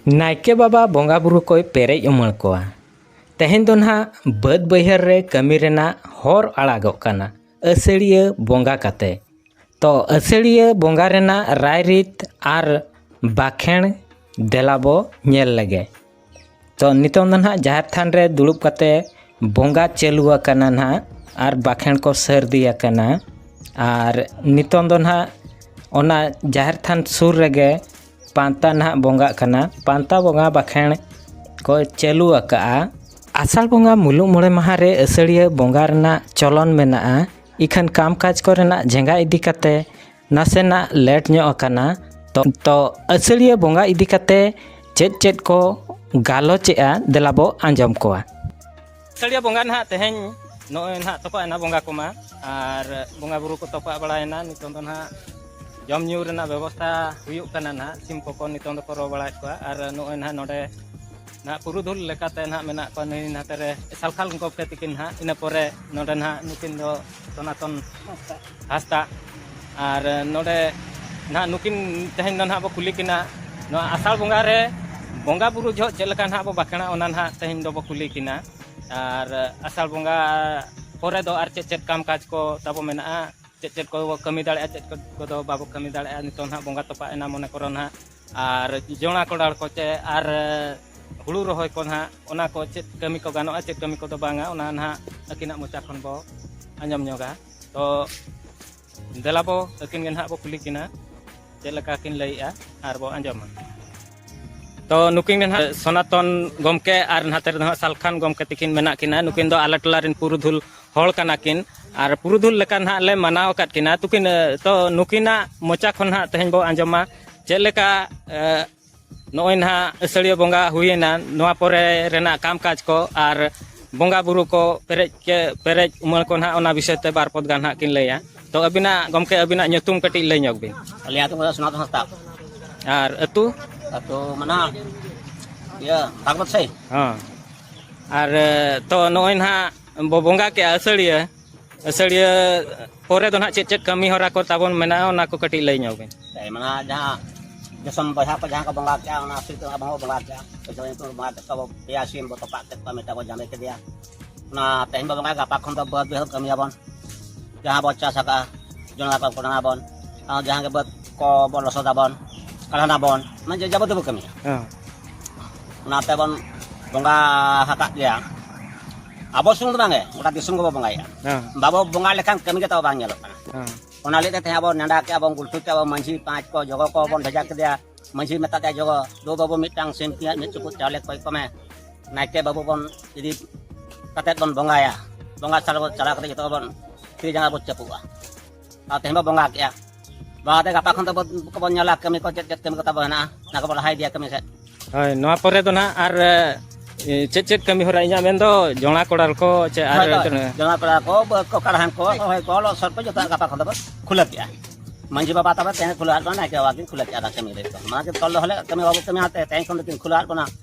ᱱᱟᱭᱠᱮ ᱵᱟᱵᱟ ᱵᱚᱸᱜᱟ ᱵᱩᱨᱩ ᱠᱚᱭ ᱯᱮᱨᱮᱡ ᱩᱢᱟᱹᱬ ᱠᱚᱣᱟ᱾ ᱛᱮᱦᱮᱧ ᱫᱚ ᱱᱟᱦᱟᱜ ᱵᱟᱹᱫᱽ ᱵᱟᱹᱭᱦᱟᱹᱲ ᱨᱮ ᱠᱟᱹᱢᱤ ᱨᱮᱱᱟᱜ ᱦᱚᱨ ᱟᱲᱟᱜᱚᱜ ᱠᱟᱱᱟ ᱟᱹᱥᱟᱹᱲᱤᱭᱟᱹ ᱵᱚᱸᱜᱟ ᱠᱟᱛᱮ᱾ ᱛᱚ ᱟᱹᱥᱟᱹᱲᱤᱭᱟᱹ ᱵᱚᱸᱜᱟ ᱨᱮᱱᱟᱜ ᱨᱟᱭ ᱨᱤᱛ ᱟᱨ ᱵᱟᱠᱷᱮᱬ ᱫᱮᱞᱟ ᱵᱚ ᱧᱮᱞ ᱞᱮᱜᱮ᱾ ᱛᱚ ᱱᱤᱛᱚᱝ ᱫᱚ ᱱᱟᱦᱟᱜ ᱡᱟᱦᱮᱨ ᱛᱷᱟᱱ ᱨᱮ ᱫᱩᱲᱩᱵ ᱠᱟᱛᱮ ᱵᱚᱸᱜᱟ ᱪᱟᱹᱞᱩ ᱟᱠᱟᱱᱟ ᱱᱟᱦᱟᱜ ᱟᱨ ᱵᱟᱠᱷᱮᱬ ᱠᱚ ᱥᱟᱹᱨᱫᱤ ᱟᱠᱟᱱᱟ ᱟᱨ ᱱᱤᱛᱚᱝ ᱫᱚ ᱱᱟᱦᱟᱜ ᱚᱱᱟ ᱡᱟᱦᱮᱨ ᱛᱷᱟᱱ ᱥᱩᱨ ᱨᱮᱜᱮ ᱯᱟᱱᱛᱟ ᱱᱟᱦᱟᱜ ᱵᱚᱸᱜᱟᱜ ᱠᱟᱱᱟ ᱯᱟᱱᱛᱟ ᱵᱚᱸᱜᱟ ᱵᱟᱠᱷᱮᱬ ᱠᱚ ᱪᱟᱹᱞᱩ ᱟᱠᱟᱫᱼᱟ ᱟᱥᱟᱲ ᱵᱚᱸᱜᱟ ᱢᱩᱞᱩᱜ ᱢᱚᱬᱮ ᱢᱟᱦᱟ ᱨᱮ ᱟᱹᱥᱟᱹᱲᱤᱭᱟᱹ ᱵᱚᱸᱜᱟ ᱨᱮᱱᱟᱜ ᱪᱚᱞᱚᱱ ᱢᱮᱱᱟᱜᱼᱟ ᱤᱠᱷᱟᱹᱱ ᱠᱟᱢ ᱠᱟᱡᱽ ᱠᱚᱨᱮᱱᱟᱜ ᱡᱷᱮᱸᱜᱟ ᱤᱫᱤ ᱠᱟᱛᱮ ᱱᱟᱥᱮᱱᱟᱜ ᱞᱮᱴ ᱧᱚᱜ ᱟᱠᱟᱱᱟ ᱛᱚ ᱛᱚ ᱟᱹᱥᱟᱹᱲᱤᱭᱟᱹ ᱵᱚᱸᱜᱟ ᱤᱫᱤ ᱠᱟᱛᱮ ᱪᱮᱫ ᱪᱮᱫ ᱠᱚ ᱜᱟᱞᱚᱪᱮᱜᱼᱟ ᱫᱮᱞᱟ ᱵᱚ ᱟᱸᱡᱚᱢ ᱠᱚᱣᱟ ᱟᱹᱥᱟᱹᱲᱤᱭᱟᱹ ᱵᱚᱸᱜᱟ ᱱᱟᱦᱟᱜ ᱛᱮᱦᱮᱧ ᱱᱚᱜᱼᱚᱭ ᱱᱟᱦᱟᱜ ᱛᱚᱯᱟᱜ ᱮᱱᱟ ᱵᱚᱸᱜᱟ ᱠᱚᱢᱟ ᱟᱨ ᱵᱚᱸᱜᱟ ᱵᱩᱨᱩ ᱠᱚ ᱛᱚᱯᱟᱜ ᱵᱟᱲᱟᱭᱮᱱᱟ ᱱᱤᱛᱚᱝ ᱫᱚ ᱱᱟᱦᱟᱜ ᱡᱚᱢ ᱧᱩ ᱨᱮᱱᱟᱜ ᱵᱮᱵᱚᱥᱛᱷᱟ ᱦᱩᱭᱩᱜ ᱠᱟᱱᱟ ᱱᱟᱦᱟᱜ ᱥᱤᱢ ᱠᱚᱠᱚ ᱱᱤᱛᱚᱝ ᱫᱚᱠᱚ ᱨᱚ ᱵᱟᱲᱟᱭᱮᱫ ᱠᱚᱣᱟ ᱟᱨ ᱱᱚᱜᱼᱚᱭ ᱱᱟᱦᱟᱜ ᱱᱚᱰᱮ ᱱᱟᱦᱟᱜ ᱯᱩᱨᱩᱫᱷᱩᱞ ᱞᱮᱠᱟᱛᱮ ᱱᱟᱦᱟᱜ ᱢᱮᱱᱟᱜ ᱠᱚᱣᱟ ᱱᱩᱭ ᱱᱟᱛᱮ ᱨᱮ ᱥᱟᱞᱠᱷᱟᱞ ᱜᱚᱢᱠᱮ ᱛᱤᱠᱤᱱ ᱱᱟᱦᱟᱜ ᱤᱱᱟᱹ ᱯᱚᱨᱮ ᱱᱚᱰᱮ ᱱᱟᱦᱟᱜ ᱱᱩᱠᱤᱱ ᱫᱚ ᱥᱚᱱᱟᱛᱚᱱ ᱦᱟᱸᱥᱫᱟᱜ ᱟᱨ ᱱᱚᱰᱮ ᱱᱟᱦᱟᱜ ᱱᱩᱠᱤᱱ ᱛᱮᱦᱮᱧ ᱫᱚ ᱱᱟᱦᱟᱜ ᱵᱚ ᱠᱩᱞᱤ ᱠᱤᱱᱟ ᱱᱚᱣᱟ ᱟᱥᱟᱲ ᱵᱚᱸᱜᱟ ᱨᱮ ᱵᱚᱸᱜᱟ ᱵᱩᱨᱩ ᱡᱚᱦᱚᱜ ᱪᱮᱫ ᱞᱮᱠᱟ ᱱᱟᱦᱟᱜ ᱵᱚ ᱵᱟᱸᱠᱷᱮᱲᱟ ᱚᱱᱟ ᱱᱟᱦᱟᱜ ᱛᱮᱦᱮᱧ ᱫᱚᱵᱚ ᱠᱩᱞᱤ ᱠᱤᱱᱟ ᱟᱨ ᱟᱥᱟᱲ ᱵᱚᱸᱜᱟ ᱯᱚᱨᱮ ᱫᱚ ᱟᱨ ᱪᱮᱫ ᱪᱮᱫ ᱠᱟᱢ ᱠᱟᱡᱽ ᱠᱚ ᱛᱟᱵᱚ ᱢᱮᱱᱟᱜᱼᱟ ᱪᱮᱫ ᱪᱮᱫ ᱠᱚᱵᱚ ᱠᱟᱹᱢᱤ ᱫᱟᱲᱮᱭᱟᱜᱼᱟ ᱪᱮᱫ ᱠᱚᱫᱚ ᱵᱟᱵᱚ ᱠᱟᱹᱢᱤ ᱫᱟᱲᱮᱭᱟᱜᱼᱟ ᱱᱤᱛᱚᱜ ᱱᱟᱦᱟᱜ ᱵᱚᱸᱜᱟ ᱛᱚᱯᱟᱜ ᱮᱱᱟ ᱢᱚᱱᱮ ᱠᱚᱨᱚ ᱱᱟᱦᱟᱜ ᱟᱨ ᱡᱚᱱᱟ ᱠᱚᱰᱟᱲ ᱠᱚ ᱪᱮ ᱟᱨ ᱦᱩᱲᱩ ᱨᱚᱦᱚᱭ ᱠᱚ ᱱᱟᱦᱟᱜ ᱚᱱᱟ ᱠᱚ ᱪᱮᱫ ᱠᱟᱹᱢᱤ ᱠᱚ ᱜᱟᱱᱚᱜᱼᱟ ᱪᱮᱫ ᱠᱟᱹᱢᱤ ᱠᱚᱫᱚ ᱵᱟᱝᱟ ᱚᱱᱟ ᱱᱟᱦᱟᱜ ᱟᱹᱠᱤᱱᱟᱜ ᱢᱚᱪᱟ ᱠᱷᱚᱱ ᱵᱚ ᱟᱸᱡᱚᱢ ᱧᱚᱜᱟ ᱛᱚ ᱫᱮᱞᱟ ᱵᱚ ᱟᱹᱠᱤᱱ ᱜᱮ ᱱᱟᱦᱟᱜ ᱵᱚ ᱠᱩᱞᱤ ᱠᱤᱱᱟ ᱪᱮᱫ ᱞᱮᱠᱟ ᱠᱤᱱ ᱞᱟᱹᱭᱮᱜᱼᱟ ᱟᱨ ᱵᱚ ᱟᱸᱡᱚᱢᱟ ᱛᱚ ᱱᱩᱠᱤᱱ ᱜᱮ ᱱᱟᱦᱟᱜ ᱥᱚᱱᱟᱛᱚᱱ ᱜᱚᱢᱠᱮ ᱟᱨ ᱱᱟᱛᱮ ᱨᱮᱫᱚ ᱦᱟᱸᱜ ᱥᱟᱞᱠᱷᱟᱱ ᱜᱚᱢᱠᱮ ᱛᱤᱠᱤᱱ ᱢᱮᱱᱟᱜ ᱠᱤᱱᱟ ᱱᱩᱠᱤᱱ ᱫᱚ ᱟᱞᱮ ᱴᱚᱞᱟ ᱨᱮᱱ ᱯᱩᱨᱩᱫᱷᱩᱞ ᱦᱚᱲ ᱠᱟᱱᱟ ᱠᱤᱱ ᱟᱨ ᱯᱩᱨᱩᱫᱷᱩᱞ ᱞᱮᱠᱟ ᱱᱟᱦᱟᱜ ᱞᱮ ᱢᱟᱱᱟᱣ ᱟᱠᱟᱫ ᱠᱤᱱᱟ ᱛᱩᱠᱤᱱ ᱛᱚ ᱱᱩᱠᱤᱱᱟᱜ ᱢᱚᱪᱟ ᱠᱷᱚᱱ ᱱᱟᱦᱟᱜ ᱛᱮᱦᱮᱧ ᱵᱚ ᱟᱸᱡᱚᱢᱟ ᱪᱮᱫ ᱞᱮᱠᱟ ᱱᱚᱜᱼᱚᱭ ᱱᱟᱦᱟᱜ ᱟᱹᱥᱟᱹᱲᱤᱭᱟᱹ ᱵᱚᱸᱜᱟ ᱦᱩᱭᱮᱱᱟ ᱱᱚᱣᱟ ᱯᱚᱨᱮ ᱨᱮᱱᱟᱜ ᱠᱟᱢ ᱠᱟᱡᱽ ᱠᱚ ᱟᱨ ᱵᱚᱸᱜᱟ ᱵᱩᱨᱩ ᱠᱚ ᱯᱮᱨᱮᱡ ᱠᱮ ᱯᱮᱨᱮᱡ ᱩᱢᱟᱹᱲ ᱠᱚ ᱱᱟᱦᱟᱜ ᱚᱱᱟ ᱵᱤᱥᱚᱭ ᱛᱮ ᱵᱟᱨ ᱯᱚᱫ ᱜᱟᱱ ᱱᱟᱦᱟᱜ ᱠᱤᱱ ᱞᱟᱹᱭᱟ ᱛᱚ ᱟᱹᱵᱤᱱᱟᱜ ᱜᱚᱢᱠᱮ ᱟᱹᱵᱤᱱᱟᱜ ᱧᱩᱛᱩᱢ ᱠᱟᱹᱴᱤᱡ ᱞᱟᱹᱭ ᱧᱚᱜ ᱵᱤᱱ ᱟᱞᱮ ᱟᱛᱳ ᱠᱚᱫᱚ ᱥᱚᱱᱟᱛᱚᱱ ᱦᱟᱸᱥᱫᱟ ᱟᱨ ᱟᱹᱛᱩ ᱟᱛᱳ ᱢᱟᱱᱟ ᱤᱭᱟᱹ ᱵᱷᱟᱜᱽᱵᱚᱛ ᱥᱟᱹᱭ ᱦᱚᱸ ᱟᱨ ᱛᱚ ᱱᱚᱜᱼᱚᱭ ᱱᱟᱦᱟᱜ ᱵᱚ ᱵᱚᱸᱜᱟ ᱠᱮᱜᱼᱟ ᱟᱹᱥᱟᱹᱲᱤᱭᱟᱹ ᱟᱹᱥᱟᱹᱲᱤᱭᱟᱹ ᱯᱚᱨᱮ ᱫᱚ ᱱᱟᱦᱟᱜ ᱪᱮᱫ ᱪᱮᱫ ᱠᱟᱹᱢᱤ ᱦᱚᱨᱟ ᱠᱚ ᱛᱟᱵᱚᱱ ᱢᱮᱱᱟᱜᱼᱟ ᱚᱱᱟ ᱠᱚ ᱠᱟᱹᱴᱤᱡ ᱞᱟᱹᱭ ᱧᱚᱜ ᱵᱤᱱ ᱢᱮᱱᱟᱜᱼᱟ ᱡᱟᱦᱟᱸ ᱫᱤᱥᱚᱢ ᱵᱚᱭᱦᱟ ᱠᱚ ᱡᱟᱦᱟᱸ ᱠᱚ ᱵᱚᱸᱜᱟ ᱠᱮᱜᱼᱟ ᱚᱱᱟ ᱦᱚᱛᱮᱡ ᱛᱮ ᱵᱟᱵᱚ ᱵᱚᱸᱜᱟ ᱠᱮᱜᱼᱟ ᱡᱚᱛᱚ ᱧᱩᱛᱩᱢ ᱵᱚᱸᱜᱟ ᱠᱮᱫ ᱠᱚᱣᱟ ᱯᱮᱭᱟ ᱥᱤᱢ ᱵᱚ ᱛᱚᱯᱟᱜ ᱠᱮᱫ ᱠᱚᱣᱟ ᱢᱤᱫᱴᱟᱝ ᱵᱚ ᱡᱟᱸᱜᱮ ᱠᱮᱫᱮᱭᱟ ᱚᱱᱟ ᱛᱮᱦᱮᱧ ᱵᱚ ᱵᱚᱸᱜᱟ ᱜᱟᱯᱟ ᱠᱷᱚᱱ ᱫᱚ ᱵᱟᱹᱫᱽ ᱵᱟᱹᱭᱦᱟᱹᱲ ᱠᱟᱹᱢᱤᱭᱟᱵᱚᱱ ᱡᱟᱦᱟᱸ ᱵᱚ ᱪᱟᱥ ᱟᱠᱟᱜᱼᱟ ᱡᱚᱱᱟ ᱠᱚ ᱠᱚᱰᱟᱱᱟ ᱵᱚᱱ ᱟᱨ ᱡᱟᱦᱟᱸ ᱜᱮ ᱵᱟᱹᱫᱽ ᱠᱚ ᱵᱚ ᱞᱚᱥᱚᱫᱟᱵᱚᱱ ᱠᱟᱰᱟᱱᱟ ᱵᱚᱱ ᱢᱟᱱᱮ ᱡᱮ ᱡᱟᱵᱚᱛᱤ ᱵᱚ ᱠᱟᱹᱢᱤᱭᱟ ᱚᱱᱟᱛᱮ ᱵᱚᱱ ᱵᱚᱸᱜᱟ ᱦᱟᱠᱟᱫ ᱜᱮᱭᱟ ᱟᱵᱚ ᱥᱩᱢᱩᱝ ᱫᱚ ᱵᱟᱝᱜᱮ ᱜᱚᱴᱟ ᱫᱤᱥᱚᱢ ᱜᱮᱵᱚ ᱵᱚᱸᱜᱟᱭᱮᱫᱼᱟ ᱵᱟᱵᱚ ᱵᱚᱸᱜᱟ ᱞᱮᱠᱷᱟᱱ ᱠᱟᱹᱢᱤ ᱜᱮ ᱛᱟᱵᱚ ᱵᱟᱝ ᱧᱮᱞᱚᱜ ᱠᱟᱱᱟ ᱚᱱᱟ ᱞᱟᱹᱜᱤᱫ ᱛᱮ ᱛᱮᱦᱮᱧ ᱟᱵᱚ ᱱᱮᱰᱟ ᱠᱮᱜᱼᱟ ᱵᱚᱱ ᱜᱩᱞᱴᱷᱩ ᱠᱮᱜᱼᱟ ᱵᱚᱱ ᱢᱟᱺᱡᱷᱤ ᱯᱟᱸᱪ ᱠᱚ ᱡᱚᱜᱚ ᱠᱚ ᱵᱚᱱ ᱵᱷᱮᱡᱟ ᱠᱮᱫᱮᱭᱟ ᱢᱟᱺᱡᱷᱤ ᱢᱮᱛᱟ ᱫᱮᱭᱟ ᱡᱚᱜᱚ ᱫᱩ ᱵᱟᱹᱵᱩ ᱢᱤᱫᱴᱟᱝ ᱥᱤᱢ ᱯᱤᱭᱟᱡ ᱢᱤᱫ ᱪᱩᱯᱩᱫ ᱪᱟᱣᱞᱮ ᱠᱚᱭ ᱠᱚᱢᱮ ᱱᱟᱭᱠᱮ ᱵᱟᱹᱵᱩ ᱵᱚᱱ ᱤᱫᱤ ᱠᱟᱛᱮᱫ ᱵᱚᱱ ᱵᱚᱸᱜᱟᱭᱟ ᱵᱚᱸᱜᱟ ᱪᱟᱞᱟᱣ ᱠᱟᱛᱮᱫ ᱡᱚᱛᱚ ᱵᱚᱱ ᱛᱤ ᱡᱟᱸᱜᱟ ᱵᱚᱱ ᱪᱟᱯᱩᱜᱼᱟ ᱟᱨ ᱛᱮᱦᱮᱧ ᱵᱚ ᱵᱚᱸᱜᱟ ᱠᱮᱜᱼᱟ ᱵᱚᱸᱜᱟ ᱛᱮ ᱜᱟᱯᱟ ᱠᱷᱚᱱ ᱫᱚ ᱵᱚ ᱧᱮᱞᱟ ᱠᱟᱹᱢᱤ ᱠᱚ ᱪᱮᱫ ᱪᱮᱫ ᱠᱟᱹᱢᱤ ᱠᱚ ᱛᱟᱵᱚ ᱦᱮᱱᱟᱜᱼᱟ ᱚᱱᱟ ᱠᱚᱵᱚ ᱞᱟᱦᱟ ᱤᱫᱤᱭᱟ ᱠᱟᱹᱢᱤ ᱥᱮᱫ ᱦᱳᱭ ᱱᱚᱣᱟ ᱯᱚᱨᱮ ᱫᱚ ᱱᱟᱦᱟᱜ ᱟᱨ ᱪᱮᱫ ᱪᱮᱫ ᱠᱟᱹᱢᱤ ᱦᱚᱨᱟ ᱤᱧᱟᱹᱜ ᱢᱮᱱᱫᱚ ᱡᱚᱸᱲᱟ ᱠᱚᱲᱟᱞ ᱠᱚ ᱪᱮ ᱟᱨ ᱡᱚᱸᱲᱟ ᱠᱚᱲᱟᱞ ᱠᱚ ᱵᱟᱹᱫᱽ ᱠᱚ ᱠᱟᱲᱦᱟᱱ ᱠᱚ ᱨᱚᱦᱚᱭ ᱠᱚ ᱞᱚᱥᱚᱫ ᱠᱚ ᱡᱚᱛᱚ ᱜᱟᱯᱟ ᱠᱷᱚᱱ ᱫᱚᱵᱚ ᱠᱷᱩᱞᱟᱹ ᱠᱮᱜᱼᱟ ᱢᱟᱹᱡᱷᱤ ᱵᱟᱵᱟ ᱛᱟᱵᱚ ᱛᱮᱦᱮᱧ ᱠᱷᱩᱞᱟᱹ ᱟᱫ ᱵᱚᱱᱟ ᱱᱟᱭᱠᱮ ᱵᱟᱵᱟ ᱠᱤᱱ ᱠᱷᱩᱞᱟᱹ ᱠᱮᱜᱼᱟ ᱠᱟᱹᱢᱤ ᱨᱮ ᱢᱟᱱᱮ ᱛᱚᱞ ᱫᱚᱦᱚ ᱞᱮᱫ ᱠᱟᱹᱢᱤ ᱵᱟᱵᱚ ᱠᱟᱹᱢᱤᱭᱟ ᱛᱮᱦᱮᱧ ᱠᱷᱚᱱ ᱫᱚᱠᱤᱱ ᱠᱷᱩᱞᱟᱹ ᱟᱫ ᱵᱚᱱᱟ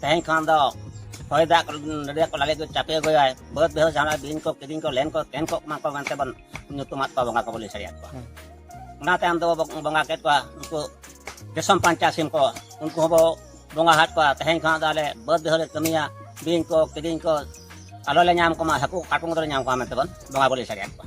ᱛᱮᱦᱮᱧ ᱠᱷᱚᱱ ᱫᱚ ᱦᱚᱭ ᱫᱟᱜ ᱱᱟᱹᱰᱤᱭᱟ ᱠᱚ ᱞᱟᱞᱮ ᱠᱚ ᱪᱟᱯᱮ ᱟᱹᱜᱩᱭᱟᱭ ᱵᱟᱹᱫᱽ ᱵᱮᱦᱚ ᱡᱟᱦᱟᱱᱟᱜ ᱵᱤᱧ ᱠᱚ ᱠᱤᱫᱤᱧ ᱠᱚ ᱞᱮᱱ ᱠᱚ ᱛᱮᱱ ᱠᱚᱜ ᱢᱟ ᱠᱚ ᱢᱮᱱᱛᱮ ᱵᱚᱱ ᱧᱩᱛᱩᱢᱟᱫ ᱠᱚᱣᱟ ᱵᱚᱸᱜᱟ ᱠᱚᱵᱚᱱ ᱞᱟᱹᱭ ᱥᱟᱹᱨᱤᱭᱟᱫ ᱠᱚᱣᱟ ᱚᱱᱟ ᱛᱟᱭᱚᱢ ᱫᱚ ᱵᱚᱸᱜᱟ ᱠᱮᱫ ᱠᱚᱣᱟ ᱩᱱᱠᱩ ᱫᱤᱥᱚᱢ ᱯᱟᱧᱪᱟ ᱥᱤᱢ ᱠᱚ ᱩᱱᱠᱩ ᱦᱚᱸᱵᱚ ᱵᱚᱸᱜᱟ ᱦᱟᱫ ᱠᱚᱣᱟ ᱛᱮᱦᱮᱧ ᱠᱷᱚᱱ ᱫᱚ ᱟᱞᱮ ᱵᱟᱹᱫᱽ ᱵᱮᱦᱚ ᱞᱮ ᱠᱟᱹᱢᱤᱭᱟ ᱵᱤᱧ ᱠᱚ ᱠᱤᱫᱤᱧ ᱠᱚ ᱟᱞᱚ ᱞᱮ ᱧᱟᱢ ᱠᱚᱢᱟ ᱦᱟᱹᱠᱩ ᱠᱟᱴᱠᱚᱢ ᱫᱚᱞᱮ ᱧᱟᱢ ᱠᱚᱣᱟ ᱢᱮᱱᱛᱮ ᱵᱚᱱ ᱵᱚᱸᱜᱟ ᱵᱚᱱ ᱞᱟᱹᱭ ᱥᱟᱹᱨᱤᱭᱟᱫ ᱠᱚᱣᱟ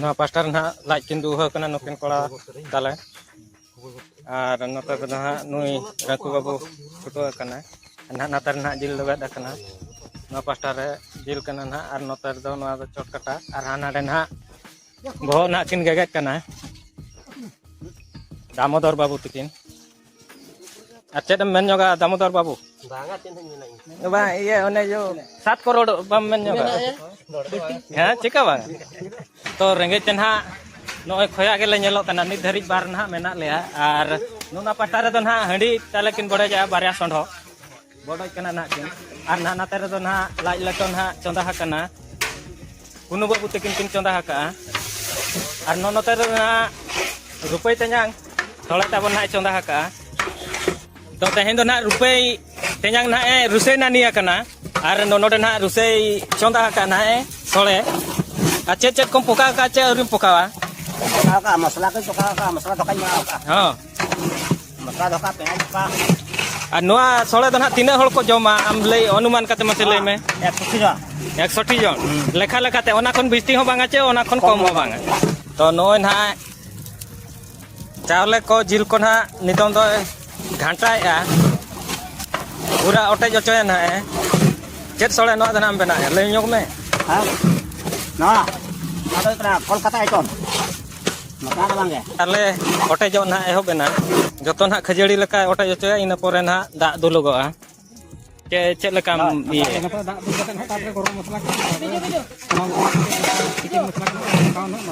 ᱱᱚᱣᱟ ᱯᱟᱥᱴᱟ ᱨᱮ ᱱᱟᱦᱟᱜ ᱞᱟᱡ ᱠᱤᱱᱫᱩ ᱦᱟᱹ ᱠᱟᱱᱟ ᱱᱩᱠᱤᱱ ᱠᱚᱲᱟ ᱛᱟᱞᱮ ᱟᱨ ᱱᱚᱛᱮ ᱫᱚ ᱱᱟᱦᱟᱜ ᱱᱩᱭ ᱨᱟᱹᱠᱩ ᱵᱟᱹᱵᱩ ᱯᱷᱩᱴᱟᱹᱣ ᱟᱠᱟᱱᱟᱭ ᱱᱟᱦᱟᱜ ᱱᱚᱛᱮ ᱨᱮ ᱱᱟᱦᱟᱜ ᱡᱤᱞ ᱞᱮᱵᱮᱫ ᱟᱠᱟᱱᱟ ᱱᱚᱣᱟ ᱯᱟᱥᱴᱟ ᱨᱮ ᱡᱤᱞ ᱠᱟᱱᱟ ᱱᱟᱦᱟᱜ ᱟᱨ ᱱᱚᱛᱮ ᱨᱮᱫᱚ ᱱᱚᱣᱟ ᱫᱚ ᱪᱚᱴ ᱠᱟᱴᱟ ᱟᱨ ᱦᱟᱱᱟ ᱨᱮ ᱱᱟᱦᱟᱜ ᱵᱚᱦᱚᱜ ᱱᱟᱦᱟᱜ ᱠᱤᱱ ᱜᱮᱜᱮᱫ ᱠᱟᱱᱟ ᱫᱟᱢᱳᱫᱚᱨ ᱵᱟᱹᱵᱩ ᱛᱟᱹᱠᱤᱱ ᱟᱨ ᱪᱮᱫ ᱮᱢ ᱢᱮᱱ ᱧᱚᱜᱟ ᱫᱟᱢᱳᱫᱚᱨ ᱵᱟᱹᱵᱩ ᱵᱟᱝᱟ ᱪᱮᱫ ᱦᱚᱸ ᱢᱮᱱᱟ ᱤᱧ ᱵᱟᱝ ᱤᱭᱟᱹ ᱚᱱᱮ ᱡᱚ ᱥᱟᱛ ᱠᱚᱨᱚᱲ ᱵᱟᱢ ᱢᱮᱱ ᱧᱚᱜᱟ ᱦᱮᱸ ᱪᱮᱠᱟ ᱵᱟᱝ ᱛᱚ ᱨᱮᱸᱜᱮᱡ ᱛᱮ ᱱᱟᱦᱟᱜ ᱱᱚᱜᱼᱚᱭ ᱠᱷᱚᱭᱟ ᱜᱮᱞᱮ ᱧᱮᱞᱚᱜ ᱠᱟᱱᱟ ᱱᱤᱛ ᱫᱷᱟᱹᱨᱤᱡ ᱵᱟᱨ ᱱᱟᱦᱟᱜ ᱢᱮᱱᱟᱜ ᱞᱮᱭᱟ ᱟᱨ ᱱᱚᱣᱟ ᱯᱟᱦᱴᱟ ᱨᱮᱫᱚ ᱱᱟᱦᱟᱜ ᱦᱟᱺᱰᱤ ᱛᱟᱞᱮ ᱠᱤᱱ ᱵᱚᱰᱚᱡᱟ ᱵᱟᱨᱭᱟ ᱥᱚᱸᱰᱷᱚ ᱵᱚᱰᱚᱡ ᱠᱟᱱᱟ ᱱᱟᱦᱟᱜ ᱠᱤᱱ ᱟᱨ ᱱᱟᱦᱟᱜ ᱱᱟᱛᱮ ᱨᱮᱫᱚ ᱱᱟᱦᱟᱜ ᱞᱟᱡ ᱞᱮᱴᱚ ᱱᱟᱦᱟᱜ ᱪᱚᱸᱫᱟ ᱟᱠᱟᱱᱟ ᱠᱩᱱᱩ ᱵᱟᱹᱵᱩ ᱛᱟᱹᱠᱤᱱ ᱠᱤᱱ ᱪᱚᱸᱫᱟ ᱟᱠᱟᱜᱼᱟ ᱟᱨ ᱱᱚ ᱱᱚᱛᱮ ᱨᱮᱫᱚ ᱱᱟᱦᱟᱜ ᱨᱩᱯᱟᱹᱭ ᱛᱮᱧᱟᱝ ᱛᱷᱚᱲᱟ ᱛᱟᱵᱚᱱ ᱱᱟᱦᱟᱜ ᱪᱚᱸᱫᱟ ᱟᱠᱟᱜᱼᱟ ᱛᱚ ᱛᱮᱦᱮᱧ ᱫᱚ ᱱᱟᱦᱟᱜ ᱨᱩᱯᱟᱹᱭ ᱛᱮᱧᱟᱝ ᱱᱟᱦᱟᱜ ᱮ ᱨᱩᱥᱟᱹᱭ ᱱᱟᱹᱱᱤ ᱟᱠᱟᱱᱟ ᱟᱨ ᱱᱚ ᱱᱚᱰᱮ ᱱᱟᱦᱟᱜ ᱨᱩᱥᱟᱹᱭ ᱪᱚᱸᱫᱟ ᱟᱠᱟᱜᱼᱟ ᱱᱟᱦᱟᱜ ᱮ ᱥᱚᱲᱮ ᱟᱨ ᱪᱮᱫ ᱪᱮᱫ ᱠᱚᱢ ᱯᱚᱠᱟᱣ ᱟᱠᱟᱜᱼᱟ ᱪᱮᱫ ᱟᱹᱣᱨᱤᱢ ᱯᱚᱠᱟᱣᱟ ᱯᱚᱠᱟᱣ ᱟᱠᱟᱜᱼᱟ ᱢᱚᱥᱞᱟ ᱠᱚᱧ ᱯᱚᱠᱟᱣ ᱟᱠᱟᱜᱼᱟ ᱢᱚᱥᱞᱟ ᱫᱟᱠᱟᱧ ᱮᱢᱟᱣ ᱟᱠᱟᱜᱼᱟ ᱦᱚᱸ ᱟᱨ ᱱᱚᱣᱟ ᱥᱚᱲᱮ ᱫᱚ ᱱᱟᱦᱟᱜ ᱛᱤᱱᱟᱹᱜ ᱦᱚᱲ ᱠᱚ ᱡᱚᱢᱟ ᱟᱢ ᱞᱟᱹᱭ ᱚᱱᱩᱢᱟᱱ ᱠᱟᱛᱮ ᱢᱟᱥᱮ ᱞᱟᱹᱭ ᱢᱮ ᱮᱠᱥᱚᱴᱤ ᱡᱚᱱ ᱞᱮᱠᱷᱟ ᱞᱮᱠᱟᱛᱮ ᱚᱱᱟ ᱠᱷᱚᱱ ᱵᱤᱥᱛᱤ ᱦᱚᱸ ᱵᱟᱝᱟ ᱪᱮ ᱚᱱᱟ ᱠᱷᱚᱱ ᱠᱚᱢ ᱦᱚᱸ ᱵᱟᱝᱟ ᱛᱚ ᱱᱚᱜᱼᱚᱭ ᱱᱟᱦᱟᱜ ᱪᱟᱣᱞᱮ ᱠᱚ ᱡᱤᱞ ᱠᱚ ᱱᱟᱦᱟᱜ ᱱᱤᱛᱚᱝ ᱫᱚ ᱜᱷᱟᱱᱴᱟᱭᱮᱜᱼᱟ ᱯᱩᱨᱟ ᱚᱴᱮᱡ ᱚᱪᱚᱭᱟ ᱱᱟᱦᱟᱜ ᱪᱮᱫ ᱥᱚᱲᱮ ᱱᱚᱣᱟ ᱫᱚ ᱱᱟᱦᱟᱜ ᱮᱢ ᱵᱮᱱᱟᱣᱮᱜᱼᱟ ᱞᱟᱹᱭ ᱧᱚᱜ ᱢᱮ ᱱᱚᱣᱟ ᱟᱫᱚ ᱠᱚᱞᱠᱟᱛᱟ ᱟᱭᱴᱚᱢ ᱟᱞᱮ ᱚᱴᱮᱡᱚᱜ ᱱᱟᱦᱟᱜ ᱮᱦᱚᱵ ᱮᱱᱟ ᱡᱚᱛᱚ ᱱᱟᱦᱟᱜ ᱠᱷᱟᱹᱡᱟᱹᱲᱤ ᱞᱮᱠᱟ ᱚᱴᱮᱡ ᱦᱚᱪᱚᱭᱟ ᱤᱱᱟᱹ ᱯᱚᱨᱮ ᱱᱟᱦᱟᱜ ᱫᱟᱜ ᱫᱩᱞᱩᱜᱚᱜᱼᱟ ᱪᱮ ᱪᱮᱫ ᱞᱮᱠᱟᱢ ᱤᱭᱟᱹ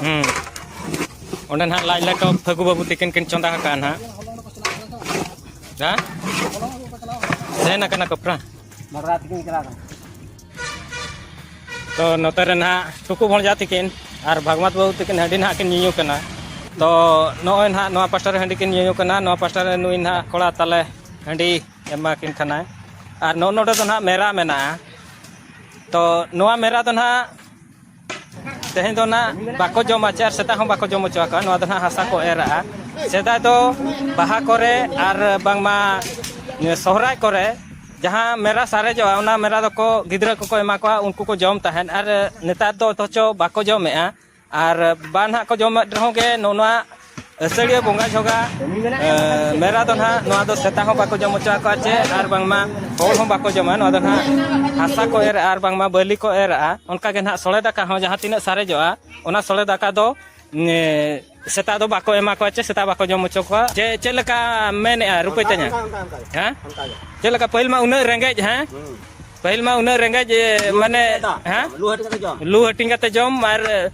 ᱦᱮᱸ ᱚᱸᱰᱮ ᱱᱟᱦᱟᱜ ᱞᱟᱡ ᱞᱮᱴᱚ ᱯᱷᱟᱹᱜᱩ ᱵᱟᱹᱵᱩ ᱛᱤᱠᱤᱱ ᱠᱤᱱ ᱪᱚᱸᱫᱟ ᱟᱠᱟᱜᱼᱟ ᱱᱟᱦᱟᱜ ᱦᱮᱸ ᱥᱮᱱ ᱟᱠᱟᱱᱟ ᱠᱚᱯᱨᱟ ᱛᱚ ᱱᱚᱛᱮ ᱨᱮ ᱱᱟᱦᱟᱜ ᱴᱷᱩᱠᱩ ᱵᱷᱚᱬᱡᱟ ᱛᱤᱠᱤᱱ ᱟᱨ ᱵᱷᱟᱜᱽᱢᱟᱛ ᱵᱟᱹᱵᱩ ᱛᱤᱠᱤᱱ ᱦᱟᱺᱰᱤ ᱱᱟᱦᱟᱜ ᱠᱤᱱ ᱧᱩᱧᱩ ᱠᱟᱱᱟ ᱛᱚ ᱱᱚᱜᱼᱚᱭ ᱱᱟᱦᱟᱜ ᱱᱚᱣᱟ ᱯᱟᱥᱴᱟ ᱨᱮ ᱦᱟᱺᱰᱤ ᱠᱤᱱ ᱧᱩᱧᱩ ᱠᱟᱱᱟ ᱱᱚᱣᱟ ᱯᱟᱥᱴᱟ ᱨᱮ ᱱᱩᱭ ᱱᱟᱦᱟᱜ ᱠᱚᱲᱟ ᱛᱟᱞᱮ ᱦᱟᱺᱰᱤ ᱮᱢᱟ ᱠᱤᱱ ᱠᱟᱱᱟᱭ ᱟᱨ ᱱᱚᱜᱼᱚ ᱱᱚᱰᱮ ᱫᱚ ᱱᱟᱦᱟᱜ ᱢᱮᱨᱟ ᱢᱮᱱᱟᱜᱼᱟ ᱛᱚ ᱱᱚᱣᱟ ᱢᱮᱨᱟ ᱫᱚ ᱱᱟᱦᱟᱜ ᱛᱮᱦᱮᱧ ᱫᱚ ᱱᱟᱜ ᱵᱟᱠᱚ ᱡᱚᱢᱟ ᱪᱮ ᱟᱨ ᱥᱮᱛᱟᱜ ᱦᱚᱸ ᱵᱟᱠᱚ ᱡᱚᱢ ᱦᱚᱪᱚ ᱟᱠᱚᱣᱟ ᱱᱚᱣᱟ ᱫᱚ ᱱᱟᱜ ᱦᱟᱥᱟ ᱠᱚ ᱮᱨᱟᱜᱼᱟ ᱥᱮᱫᱟᱭ ᱫᱚ ᱵᱟᱦᱟ ᱠᱚᱨᱮ ᱟᱨ ᱵᱟᱝᱢᱟ ᱥᱚᱦᱨᱟᱭ ᱠᱚᱨᱮ ᱡᱟᱦᱟᱸ ᱢᱮᱨᱟ ᱥᱟᱨᱮᱡᱚᱜᱼᱟ ᱚᱱᱟ ᱢᱮᱨᱟ ᱫᱚᱠᱚ ᱜᱤᱫᱽᱨᱟᱹ ᱠᱚᱠᱚ ᱮᱢᱟ ᱠᱚᱣᱟ ᱩᱱᱠᱩ ᱠᱚ ᱡᱚᱢ ᱛᱟᱦᱮᱸᱫ ᱟᱨ ᱱᱮᱛᱟᱨ ᱫᱚ ᱚᱛᱷᱚᱪᱚ ᱵᱟᱠᱚ ᱡᱚᱢᱮᱜᱼᱟ ᱟᱨ ᱵᱟᱝ ᱱᱟᱜ ᱠᱚ ᱡᱚᱢᱮᱫ ᱨᱮᱦᱚᱸ ᱜᱮ ᱱᱚᱣᱟ ᱟᱹᱥᱟᱹᱲᱤᱭᱟᱹ ᱵᱚᱸᱜᱟ ᱡᱷᱚᱜᱟ ᱢᱮᱨᱟ ᱫᱚ ᱱᱟᱦᱟᱜ ᱱᱚᱣᱟ ᱫᱚ ᱥᱮᱛᱟ ᱦᱚᱸ ᱵᱟᱠᱚ ᱡᱚᱢ ᱦᱚᱪᱚ ᱟᱠᱚᱣᱟ ᱪᱮ ᱟᱨ ᱵᱟᱝᱢᱟ ᱦᱚᱲ ᱦᱚᱸ ᱵᱟᱠᱚ ᱡᱚᱢᱟ ᱱᱚᱣᱟ ᱫᱚ ᱱᱟᱦᱟᱜ ᱦᱟᱥᱟ ᱠᱚ ᱮᱨ ᱟᱨ ᱵᱟᱝᱢᱟ ᱵᱟᱹᱞᱤ ᱠᱚ ᱮᱨᱟᱜᱼᱟ ᱚᱱᱠᱟ ᱜᱮ ᱱᱟᱦᱟᱜ ᱥᱚᱲᱮ ᱫᱟᱠᱟ ᱦᱚᱸ ᱡᱟᱦᱟᱸ ᱛᱤᱱᱟᱹᱜ ᱥᱟᱨᱮᱡᱚᱜᱼᱟ ᱚᱱᱟ ᱥᱚᱲᱮ ᱫᱟᱠᱟ ᱫᱚ ᱥᱮᱛᱟ ᱫᱚ ᱵᱟᱠᱚ ᱮᱢᱟ ᱠᱚᱣᱟ ᱪᱮ ᱥᱮᱛᱟ ᱵᱟᱠᱚ ᱡᱚᱢ ᱦᱚᱪᱚ ᱠᱚᱣᱟ ᱪᱮ ᱪᱮᱫ ᱞᱮᱠᱟ ᱢᱮᱱᱮᱜᱼᱟ ᱨᱩᱯᱟᱹᱭ ᱛᱟᱹᱧᱟ ᱦᱮᱸ ᱪᱮᱫ ᱞᱮᱠᱟ ᱯᱟᱹᱦᱤᱞ ᱢᱟ ᱩᱱᱟᱹᱜ ᱨᱮᱸᱜᱮᱡ ᱦᱮᱸ ᱯᱟᱹᱦᱤᱞ ᱢᱟ ᱩᱱᱟᱹᱜ ᱨᱮᱸᱜᱮᱡ ᱢᱟᱱᱮ ᱦᱮᱸ ᱞᱩ ᱦᱟᱹᱴᱤᱧ ᱠᱟᱛᱮ ᱡᱚᱢ ᱟᱨ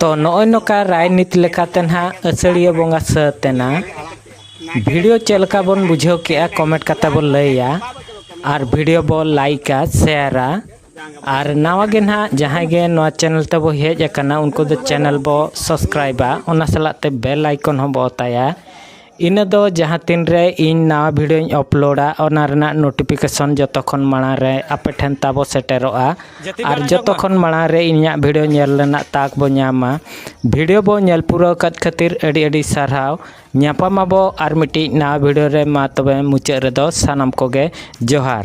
ᱛᱚ ᱱᱚᱜᱼᱚᱭ ᱱᱚᱝᱠᱟ ᱨᱟᱭᱱᱤᱛ ᱞᱮᱠᱟᱛᱮ ᱱᱟᱦᱟᱜ ᱟᱹᱥᱟᱹᱲᱤᱭᱟᱹ ᱵᱚᱸᱜᱟ ᱥᱟᱹᱛ ᱮᱱᱟ ᱵᱷᱤᱰᱤᱭᱳ ᱪᱮᱫ ᱞᱮᱠᱟ ᱵᱚᱱ ᱵᱩᱡᱷᱟᱹᱣ ᱠᱮᱜᱼᱟ ᱠᱚᱢᱮᱱᱴ ᱠᱟᱛᱮ ᱵᱚᱱ ᱞᱟᱹᱭᱟ ᱟᱨ ᱵᱷᱤᱰᱤᱭᱳ ᱵᱚᱱ ᱞᱟᱭᱤᱠᱟ ᱥᱮᱭᱟᱨᱟ ᱟᱨ ᱱᱟᱣᱟ ᱜᱮ ᱱᱟᱦᱟᱜ ᱡᱟᱦᱟᱸᱭ ᱜᱮ ᱱᱚᱣᱟ ᱪᱮᱱᱮᱞ ᱛᱮᱵᱚ ᱦᱮᱡ ᱟᱠᱟᱱᱟ ᱩᱱᱠᱩ ᱫᱚ ᱪᱮᱱᱮᱞ ᱵᱚ ᱥᱟᱵᱥᱠᱨᱟᱭᱤᱵᱟ ᱚᱱᱟ ᱥᱟᱞᱟᱜ ᱛᱮ ᱵᱮᱞ ᱟᱭᱠᱚᱱ ᱦᱚᱸ ᱵᱚ ᱚᱛᱟᱭᱟ ᱤᱱᱟᱹ ᱫᱚ ᱡᱟᱦᱟᱸ ᱛᱤᱱ ᱨᱮ ᱤᱧ ᱱᱟᱣᱟ ᱵᱷᱤᱰᱭᱳᱧ ᱟᱯᱞᱳᱰᱟ ᱚᱱᱟ ᱨᱮᱱᱟᱜ ᱱᱳᱴᱤᱯᱷᱤᱠᱮᱥᱚᱱ ᱡᱚᱛᱚ ᱠᱷᱚᱱ ᱢᱟᱲᱟᱝ ᱨᱮ ᱟᱯᱮ ᱴᱷᱮᱱ ᱛᱟᱵᱚ ᱥᱮᱴᱮᱨᱚᱜᱼᱟ ᱟᱨ ᱡᱚᱛᱚ ᱠᱷᱚᱱ ᱢᱟᱲᱟᱝ ᱨᱮ ᱤᱧᱟᱹᱜ ᱵᱷᱤᱰᱭᱳ ᱧᱮᱞ ᱨᱮᱱᱟᱜ ᱛᱟᱠ ᱵᱚᱱ ᱧᱟᱢᱟ ᱵᱷᱤᱰᱭᱳ ᱵᱚᱱ ᱧᱮᱞ ᱯᱩᱨᱟᱹᱣ ᱟᱠᱟᱫ ᱠᱷᱟᱹᱛᱤᱨ ᱟᱹᱰᱤ ᱟᱹᱰᱤ ᱥᱟᱨᱦᱟᱣ ᱧᱟᱯᱟᱢ ᱟᱵᱚ ᱟᱨ ᱢᱤᱫᱴᱤᱡ ᱱᱟᱣᱟ ᱵᱷᱤᱰᱭᱳ ᱨᱮ ᱢᱟ ᱛᱚᱵᱮ ᱢᱩᱪᱟᱹᱫ ᱨᱮᱫᱚ ᱥᱟᱱᱟᱢ ᱠᱚᱜᱮ ᱡᱚᱦᱟᱨ